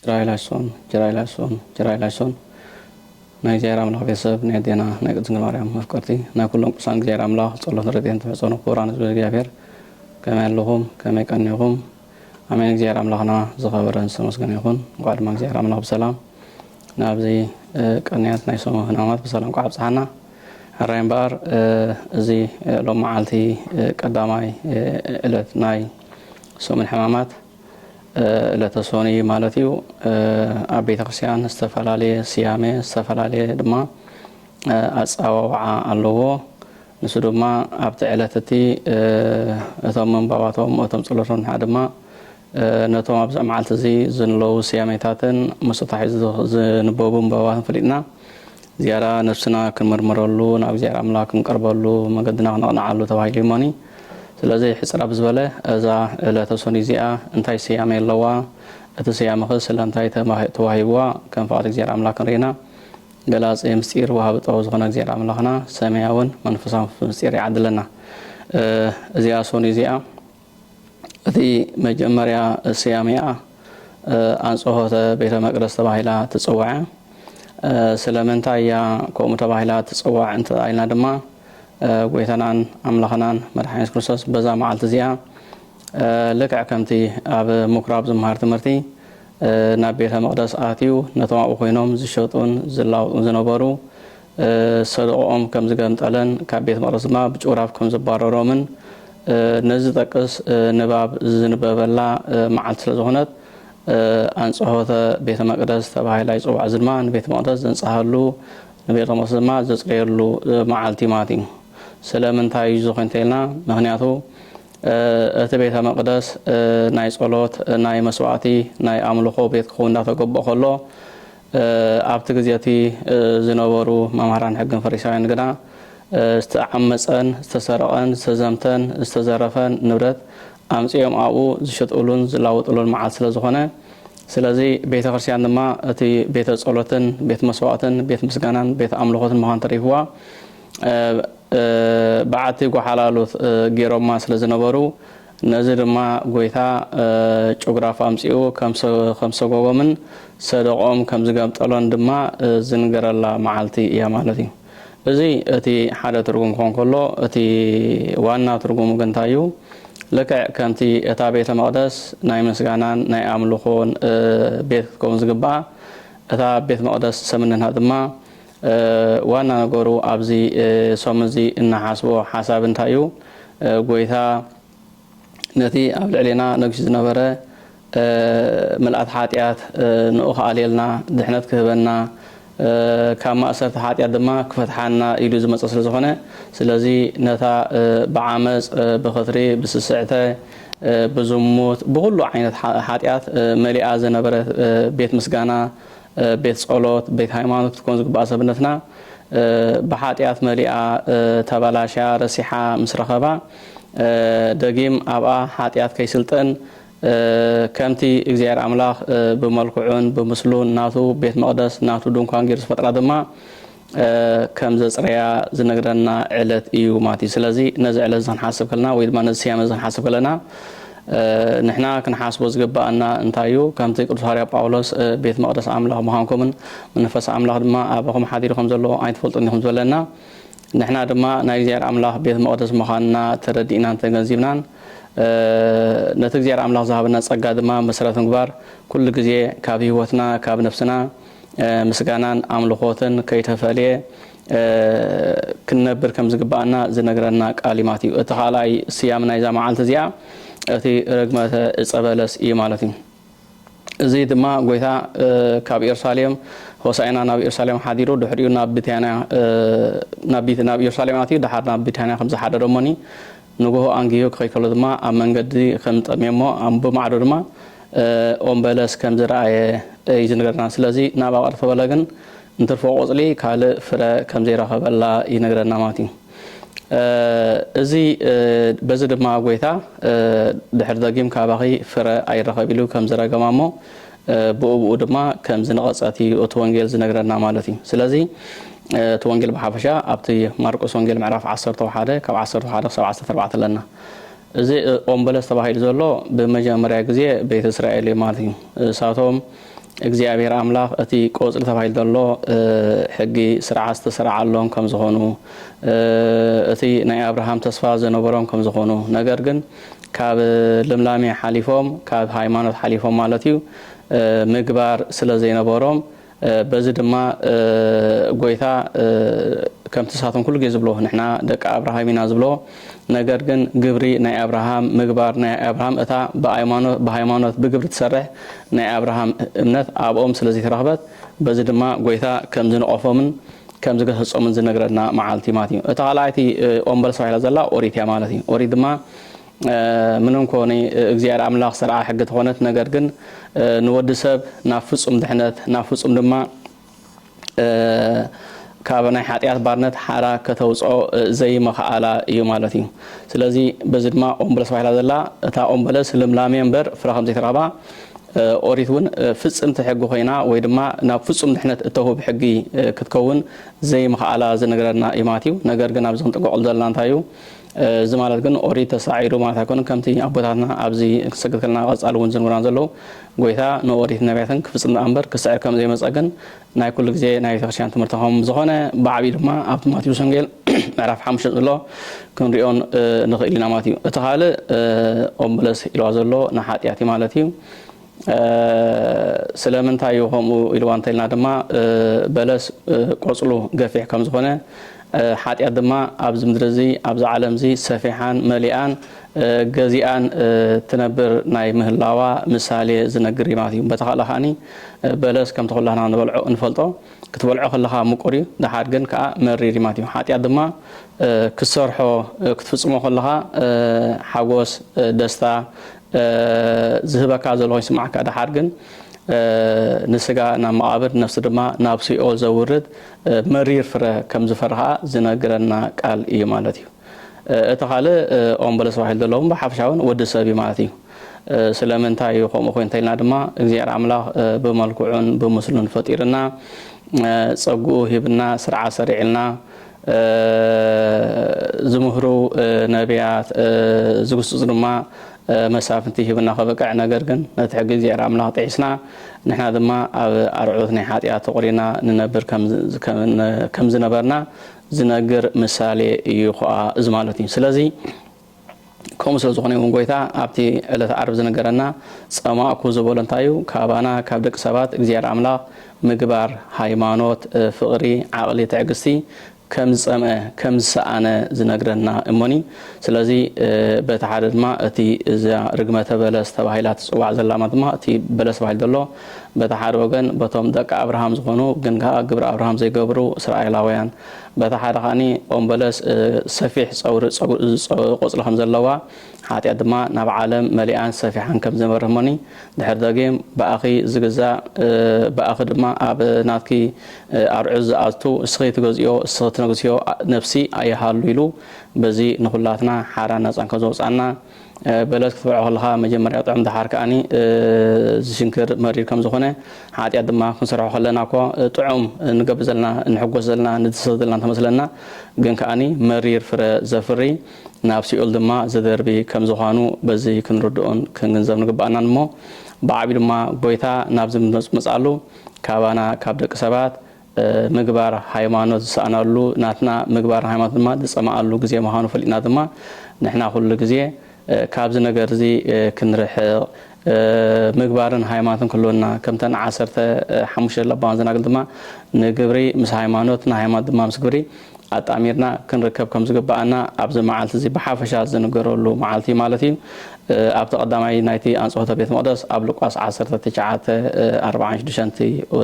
ጅራይላሶን ጅራይላሶን ጅራይላሶን ናይ እግዚኣብሔር ኣምላኽ ቤተሰብ ናይ ኣዴና ናይ ቅድስት ድንግል ማርያም መፍቀርቲ ናይ ኩሎም ቅዱሳን እግዚኣብሔር ኣምላኽ ጸሎትን ረድኤትን ተማሕጸኑ ክቡራን ህዝቢ እግዚኣብሔር ከመይ ኣለኹም ከመይ ቀኒኹም ኣሜን እግዚኣብሔር ኣምላኽና ዝኸበረን ዝተመስገነ ይኹን እንኳዕ ድማ እግዚኣብሔር ኣምላኽ ብሰላም ናብዚ ቀንያት ናይ ሰሙ ህናማት ብሰላም ቋዕ ኣብፅሓና ሕራይ እምበኣር እዚ ሎም መዓልቲ ቀዳማይ ዕለት ናይ ሰሙን ሕማማት ዕለተ ሶኑይ ማለት እዩ ኣብ ቤተክርስቲያን ዝተፈላለየ ስያሜ ዝተፈላለየ ድማ ኣፀዋውዓ ኣለዎ። ንሱ ድማ ኣብቲ ዕለት እቲ እቶም ምንባባቶም እቶም ፀሎቶም ንዓ ድማ ነቶም ኣብዛ መዓልቲ እዚ ዝንለዉ ስያሜታትን ምስ ተታሒዙ ዝንበቡ ምንባባትን ፈሊጥና ዝያዳ ነብስና ክንምርምረሉ፣ ናብ እግዚኣብሔር ኣምላክ ክንቀርበሉ፣ መገድና ክነቕንዓሉ ተባሂሉ እዩ'ሞኒ፣ ስለዚ ሕጽር ኣብዝበለ እዛ ዕለተ ሶኑይ እዚኣ እንታይ ስያሜ ኣለዋ፣ እቲ ስያመ'ኸ ስለምንታይ ተዋሂብዋ፣ ከም ፍቓድ እግዚኣብሔር ኣምላክ ክንርኢና ገላጺ ምስጢር ወሃቢ ጥበብ ዝኾነ እግዚኣብሔር ኣምላክና ሰማያውን መንፈሳውን ፍልፍል ምስጢር ይዓድለና። እዚኣ ሶኑይ እዚኣ። እቲ መጀመርያ ስያሜኣ ኣንጸሆተ ቤተ መቅደስ ተባሂላ ትጽዋዕያ። ስለምንታይ እያ ከምኡ ተባሂላ ትጽዋዕ እንተ ኢልና ድማ ጎይታናን ኣምላኽናን መድሓኒ የሱስ ክርስቶስ በዛ መዓልቲ እዚኣ ልክዕ ከምቲ ኣብ ምኩራብ ዝመሃር ትምህርቲ ናብ ቤተ መቅደስ ኣትዩ ነቶም ኣብኡ ኮይኖም ዝሸጡን ዝላውጡን ዝነበሩ ሰደቓኦም ከም ዝገንጠለን ካብ ቤት መቕደስ ድማ ብጭውራፍ ከም ዘባረሮምን ነዚ ዝጠቅስ ንባብ ዝንበበላ መዓልቲ ስለ ዝኾነት ኣንጽሖተ ቤተ መቅደስ ተባሂላ ይጽዋዕ። እዚ ድማ ንቤተ መቅደስ ዘንጽሃሉ ንቤተ መቅደስ ድማ ዘጽረየሉ መዓልቲ እዩ ማለት እዩ። ስለምንታይ እዩ ዝኾን እንተኢልና ምክንያቱ እቲ ቤተ መቅደስ ናይ ጸሎት ናይ መስዋዕቲ ናይ ኣምልኾ ቤት ክኸውን እንዳተገበኦ ከሎ ኣብቲ ግዜ እቲ ዝነበሩ መምህራን ሕግን ፈሪሳውያንን ግና ዝተዓመጸን ዝተሰረቐን ዝተዘምተን ዝተዘረፈን ንብረት ኣምጺኦም ኣብኡ ዝሸጥእሉን ዝላወጥሉን መዓልቲ ስለ ዝኾነ ስለዚ ቤተ ክርስቲያን ድማ እቲ ቤተ ጸሎትን ቤት መስዋእትን ቤት ምስጋናን ቤት ኣምልኾትን ምዃን ተሪፍዋ በዓቲ ጎሓላሉ ገይሮማ ስለ ዝነበሩ ነዚ ድማ ጐይታ ጭጉራፍ ኣምጺኡ ከም ሰጐጎምን ሰደቓኦም ከም ዝገምጠሎን ድማ ዝንገረላ መዓልቲ እያ ማለት እዩ። እዚ እቲ ሓደ ትርጉም ክዀን ከሎ፣ እቲ ዋና ትርጉሙ ግን እንታይ እዩ? ልክዕ ከምቲ እታ ቤተ መቕደስ ናይ ምስጋናን ናይ ኣምልኾን ቤት ክትከውን ዝግብኣ፣ እታ ቤት መቕደስ ሰምንና ድማ ዋና ነገሩ ኣብዚ ሶም እዚ እንሓስቦ ሓሳብ እንታይ እዩ ጎይታ ነቲ ኣብ ልዕሌና ነግሹ ዝነበረ ምልኣት ሓጢኣት ንኡ ክኣልየልና ድሕነት ክህበና ካብ ማእሰርቲ ሓጢኣት ድማ ክፈትሓና ኢሉ ዝመጸ ስለ ዝኾነ ስለዚ ነታ ብዓመጽ ብኽትሪ ብስስዕተ ብዝሙት ብኹሉ ዓይነት ሓጢኣት መሊኣ ዝነበረት ቤት ምስጋና ቤት ጸሎት፣ ቤት ሃይማኖት ክትኮን ዝግብኣ ሰብነትና ብሓጢኣት መሊኣ፣ ተበላሽያ፣ ረሲሓ ምስ ረኸባ፣ ደጊም ኣብኣ ሓጢኣት ከይስልጥን ከምቲ እግዚኣብሔር ኣምላኽ ብመልክዑን ብምስሉን ናቱ ቤት መቕደስ፣ ናቱ ድንኳን ገይሩ ዝፈጥራ ድማ፣ ከም ዘጽረያ ዝነግረና ዕለት እዩ ማለት እዩ። ስለዚ ነዚ ዕለት እዚ ክንሓስብ ከለና ወይ ድማ ነዚ ስያመ እዚ ክንሓስብ ከለና ንሕና ክንሓስቦ ዝግባኣና እንታይ እዩ? ከምቲ ቅዱስ ሃዋርያ ጳውሎስ ቤት መቕደስ ኣምላኽ ምዃንኩምን መንፈስ ኣምላኽ ድማ ኣባኹም ሓዲሩ ከም ዘሎ ኣይትፈልጡን ዲኹም ዝበለና ንሕና ድማ ናይ እግዚኣብሔር ኣምላኽ ቤት መቕደስ ምዃንና ተረዲእናን ተገንዚብናን ነቲ እግዚኣብሔር ኣምላኽ ዝሃበና ጸጋ ድማ መሰረት ምግባር ኩሉ ግዜ ካብ ህይወትና ካብ ነፍስና ምስጋናን ኣምልኾትን ከይተፈልየ ክንነብር ከም ዝግብኣና ዝነግረና ቃል ማት እዩ። እቲ ካልኣይ ስያም ናይዛ መዓልቲ እዚኣ እቲ ርግመተ ዕፀ በለስ እዩ ማለት እዩ። እዚ ድማ ጎይታ ካብ ኢየሩሳሌም ሆሳዕና ናብ ኢየሩሳሌም ሓዲሩ ድሕሪኡ ናብ ቢታንያ ናብ ኢየሩሳሌም ኣትዩ ድሓር ናብ ቢታንያ ከም ዝሓደረ እሞኒ ንግሆ ኣንጊሁ ክኸይድ ከሎ ድማ ኣብ መንገዲ ከም ዝጠምየ'ሞ ኣብ ብማዕዶ ድማ ኦም በለስ ከም ዝረኣየ እዩ ዝንገረና። ስለዚ ናብ ኣቕርፈ በለ ግን እንትርፎ ቆጽሊ ካልእ ፍረ ከም ዘይረኸበላ ይነግረና ማለት እዩ። እዚ በዚ ድማ ጎይታ ድሕሪ ደጊም ካባኺ ፍረ ኣይረኸብ ኢሉ ከም ዝረገማ'ሞ ብኡብኡ ድማ ከም ዝነቐጸት እዩ እቲ ወንጌል ዝነግረና ማለት እዩ። ስለዚ እቲ ወንጌል ብሓፈሻ ኣብቲ ማርቆስ ወንጌል ምዕራፍ ዓሰርተው ሓደ ካብ ዓሰርተው ሓደ ክሳብ ዓሰርተ ኣርባዕተ ኣለና። እዚ ኦም በለስ ተባሂሉ ዘሎ ብመጀመርያ ግዜ ቤት እስራኤል እዩ ማለት እዩ። እሳቶም እግዚኣብሔር ኣምላኽ እቲ ቆጽሊ ተባሂሉ ዘሎ ሕጊ ስርዓት ዝተሰራዓሎም ከም ዝኾኑ እቲ ናይ ኣብርሃም ተስፋ ዝነበሮም ከም ዝኾኑ ነገር ግን ካብ ልምላሜ ሓሊፎም ካብ ሃይማኖት ሓሊፎም ማለት እዩ ምግባር ስለ ዘይነበሮም በዚ ድማ ጎይታ ከምቲ ንሳቶም ኩሉ ግዜ ዝብልዎ ንሕና ደቂ ኣብርሃም ኢና ዝብልዎ ነገር ግን ግብሪ ናይ ኣብርሃም ምግባር ናይ ኣብርሃም እታ ብሃይማኖት ብግብሪ ትሰርሕ ናይ ኣብርሃም እምነት ኣብኦም ስለ ዘይተረኽበት በዚ ድማ ጐይታ ከም ዝነቐፎምን ከም ዝገሰጾምን ዝነግረና መዓልቲ ማለት እዩ። እታ ካልኣይቲ ኦም በለስ ተባሂላ ዘላ ኦሪት እያ ማለት እዩ። ኦሪት ድማ ምንም እኮ ናይ እግዚኣብሔር ኣምላኽ ሰርዓ ሕጊ ተኾነት ነገር ግን ንወዲ ሰብ ናብ ፍጹም ድሕነት ናብ ፍጹም ድማ ካብ ናይ ሓጢኣት ባርነት ሓራ ከተውፅኦ ዘይመኽኣላ እዩ ማለት እዩ። ስለዚ በዚ ድማ ኦም በለስ ተባሂላ ዘላ እታ ኦም በለስ ልምላሜ እምበር ፍረ ከም ዘይተረኽባ ኦሪት እውን ፍጽምቲ ሕጊ ኮይና ወይ ድማ ናብ ፍጹም ድሕነት እተውህብ ሕጊ ክትከውን ዘይምኽኣላ ዝነግረና እዩ ማቲው። ነገር ግን ኣብዚ ክንጥንቀቀሉ ዘለና እንታይ እዩ እዚ ማለት ግን ኦሪት ተሳዒሩ ማለት ኣይኮነን ከምቲ ኣቦታትና ኣብዚ ክሰግድ ከለና ቀጻሊ እውን ዝንብሩና ዘለዉ ጎይታ ንኦሪትን ነብያትን ክፍጽም ደኣ እምበር ክስዕር ከም ዘይመጸ ግን ናይ ኩሉ ግዜ ናይ ቤተክርስቲያን ትምህርቲ ከም ዝኾነ ብዓቢኡ ድማ ኣብቲ ማቴዎስ ወንጌል ምዕራፍ ሓሙሽተ ዘሎ ክንሪኦን ንኽእል ኢና ማለት እዩ። እቲ ካልእ ኦም በለስ ኢልዋ ዘሎ ንሓጢኣት እዩ ማለት እዩ። ስለምንታይ እዩ ከምኡ ኢልዋ እንተኢልና ድማ በለስ ቆጽሉ ገፊሕ ከም ዝኾነ ሓጢኣት ድማ ኣብዚ ምድሪ እዚ ኣብዛ ዓለም እዚ ሰፊሓን መሊኣን ገዚኣን ትነብር ናይ ምህላዋ ምሳሌ ዝነግር እዩ ማለት እዩ። በቲ ካልእ ከኣ በለስ ከምቲ ኩላትና ንበልዖ እንፈልጦ ክትበልዖ ከለኻ ምቁር እዩ ደሓር ግን ከኣ መሪር እዩ ማለት እዩ። ሓጢኣት ድማ ክትሰርሖ ክትፍጽሞ ከለኻ ሓጎስ ደስታ ዝህበካ ዘሎ ይስምዓካ ደሓር ግን ንስጋ ናብ መቓብር ነፍሲ ድማ ናብ ሲኦል ዘውርድ መሪር ፍረ ከም ዝፈርኻ ዝነግረና ቃል እዩ ማለት እዩ። እቲ ካልእ ኦም በለስ ተባሂሉ ዘሎ እውን ብሓፈሻ እውን ወዲ ሰብ እዩ ማለት እዩ። ስለምንታይ እዩ ከምኡ ኮይኑ እንተኢልና ድማ እግዚኣብሔር ኣምላኽ ብመልክዑን ብምስሉን ፈጢርና ጸግኡ ሂብና ስርዓት ሰሪዕልና ዝምህሩ ነብያት ዝግስጹ ድማ መሳፍንቲ ሂብና ከብቅዕ ነገር ግን ነቲ ሕጊ እግዚኣብሔር ኣምላኽ ጥሒስና ንሕና ድማ ኣብ ኣርዑት ናይ ሓጢኣት ተቖሪና ንነብር ከም ዝነበርና ዝነግር ምሳሌ እዩ ኹኣ እዚ ማለት እዩ ስለዚ ከምኡ ስለ ዝኾነ እውን ጐይታ ኣብቲ ዕለተ ዓርብ ዝነገረና ጸማእኩ ዝበሎ እንታይ እዩ? ካባና ካብ ደቂ ሰባት እግዚኣብሔር ኣምላኽ ምግባር፣ ሃይማኖት፣ ፍቕሪ፣ ዓቕሊ፣ ትዕግስቲ ከም ዝጸምአ፣ ከም ዝሰኣነ ዝነግረና እሞኒ። ስለዚ በቲ ሓደ ድማ እቲ እዛ ርግመተ በለስ ተባሂላ ትጽዋዕ ዘላ ማለት ድማ እቲ በለስ ተባሂሉ ዘሎ በቲ ሓደ ወገን በቶም ደቂ ኣብርሃም ዝኾኑ ግን ከኣ ግብሪ ኣብርሃም ዘይገብሩ እስራኤላውያን በታ ሓደ ከኣ ኦም በለስ ሰፊሕ ጸውሪ ቆጽሊ ከም ዘለዋ ሓጢኣት ድማ ናብ ዓለም መሊኣን ሰፊሓን ከም ዝመርህሞኒ ድሕሪ ደጊም ብኣኺ ዝግዛእ ብኣኺ ድማ ኣብ ናትኪ ኣርዑት ዝኣቱ እስኺ ትገዝእዮ እስኺ ትነግስዮ ነብሲ ኣይሃሉ ኢሉ በዚ ንኹላትና ሓራን ነጻን ከም ዘውጽኣና በለስ ክትበልዖ ከለኻ መጀመርያ ጥዑም ደሓር ከኣኒ ዝሽንክር መሪር ከም ዝኾነ ሓጢኣት ድማ ክንሰርሖ ከለና እኮ ጥዑም ንገብር ዘለና ንሕጎስ ዘለና ንድሰት ዘለና እንተመስለና ግን ከኣኒ መሪር ፍረ ዘፍሪ ናብ ሲኦል ድማ ዘደርቢ ከም ዝዃኑ በዚ ክንርድኦን ክንግንዘብ ንግበኣናን እሞ ብዓብዩ ድማ ጎይታ ናብዚ ምጽምጻሉ ካባና ካብ ደቂ ሰባት ምግባር ሃይማኖት ዝሰኣናሉ ናትና ምግባር ሃይማኖት ድማ ዝጸመኣሉ ግዜ ምዃኑ ፈሊጥና ድማ ንሕና ኩሉ ግዜ ካብዚ ነገርዚ ክንርሕቕ ምግባርን ሃይማኖትን ክህልወና ከምተን ዓሰርተ ሓሙሽተ ለባማት ዘናግል ድማ ንግብሪ ምስ ሃይማኖት ንሃይማኖት ድማ ምስ ግብሪ ኣጣሚርና ክንርከብ ከምዝግበኣና ኣብዚ መዓልቲዚ ብሓፈሻ ዝንገረሉ መዓልቲ ማለት እዩ። ኣብቲ ቀዳማይ ናይቲ ኣንጽሆተ ቤት መቕደስ ኣብ ሉቃስ ዓሰርተ ትሽዓተ ኣርብዓን ሽዱሽተን እቲ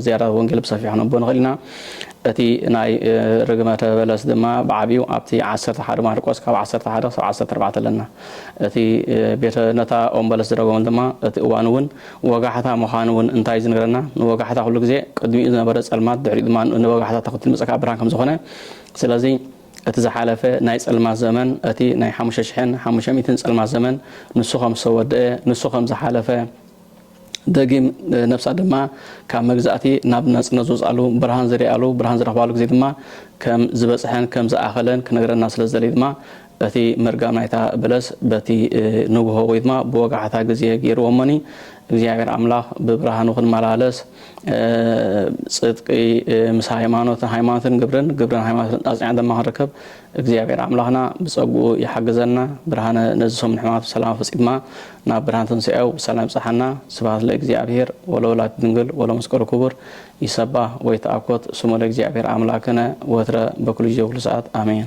ዝያዳ ወንጌል ብሰፊሑ ክንብቦ ንኽእል ኢና። እቲ ናይ ርግመተ በለስ ድማ ብዓቢኡ ኣብቲ ዓሰርተ ሓደ ማርቆስ ካብ ዓሰርተ ሓደ ክሳብ ዓሰርተ ኣርባዕተ ኣለና። እቲ ቤተ ነታ ኦም በለስ ዝረገመሉ ድማ እቲ እዋን እውን ወጋሕታ ምዃኑ እውን እንታይ እዩ ዝነግረና? ንወጋሕታ ኩሉ ግዜ ቅድሚኡ ዝነበረ ጸልማት ድሕሪኡ ድማ ንወጋሕታ ተኽትሉ ዝመጸካ ብርሃን ከም ዝኾነ ስለዚ እቲ ዝሓለፈ ናይ ጸልማት ዘመን፣ እቲ ናይ ሓሙሽተ ሽሕን ሓሙሽተ ሚእትን ጸልማት ዘመን ንሱ ከም ዝተወደኤ፣ ንሱ ከም ዝሓለፈ፣ ደጊም ነፍሳ ድማ ካብ መግዛእቲ ናብ ናጽነት ዝወጽኣሉ፣ ብርሃን ዝርኣሉ፣ ብርሃን ዝረኽባሉ ግዜ ድማ ከም ዝበጽሐን ከም ዝኣኸለን ክነግረና ስለ ዝደለየ ድማ እቲ ምርጋም ናይታ በለስ በቲ ንግሆ ወይ ድማ ብወጋሕታ ግዜ ገይርዎ። እሞኒ እግዚኣብሔር ኣምላኽ ብብርሃኑ ክንመላለስ፣ ጽድቂ ምስ ሃይማኖትን ሃይማኖትን ግብርን ግብርን ሃይማኖትን ኣጽኒዕና ድማ ክንርከብ እግዚኣብሔር ኣምላኽና ብጸግኡ ይሓግዘና ብርሃነ ነዚ ሰሙን ሕማማት ብሰላም ኣፈጺማ ናብ ብርሃን ትንሣኤው ብሰላም ይብጽሓና ስብሐት ለእግዚኣብሔር ወለወላዲቱ ድንግል ወለመስቀሉ ክቡር ይሰባህ ወይትኣኮት ስሙ ለእግዚኣብሔር ኣምላክነ ወትረ በኩሉ ጊዜ ወኩሉ ሰዓት ኣሜን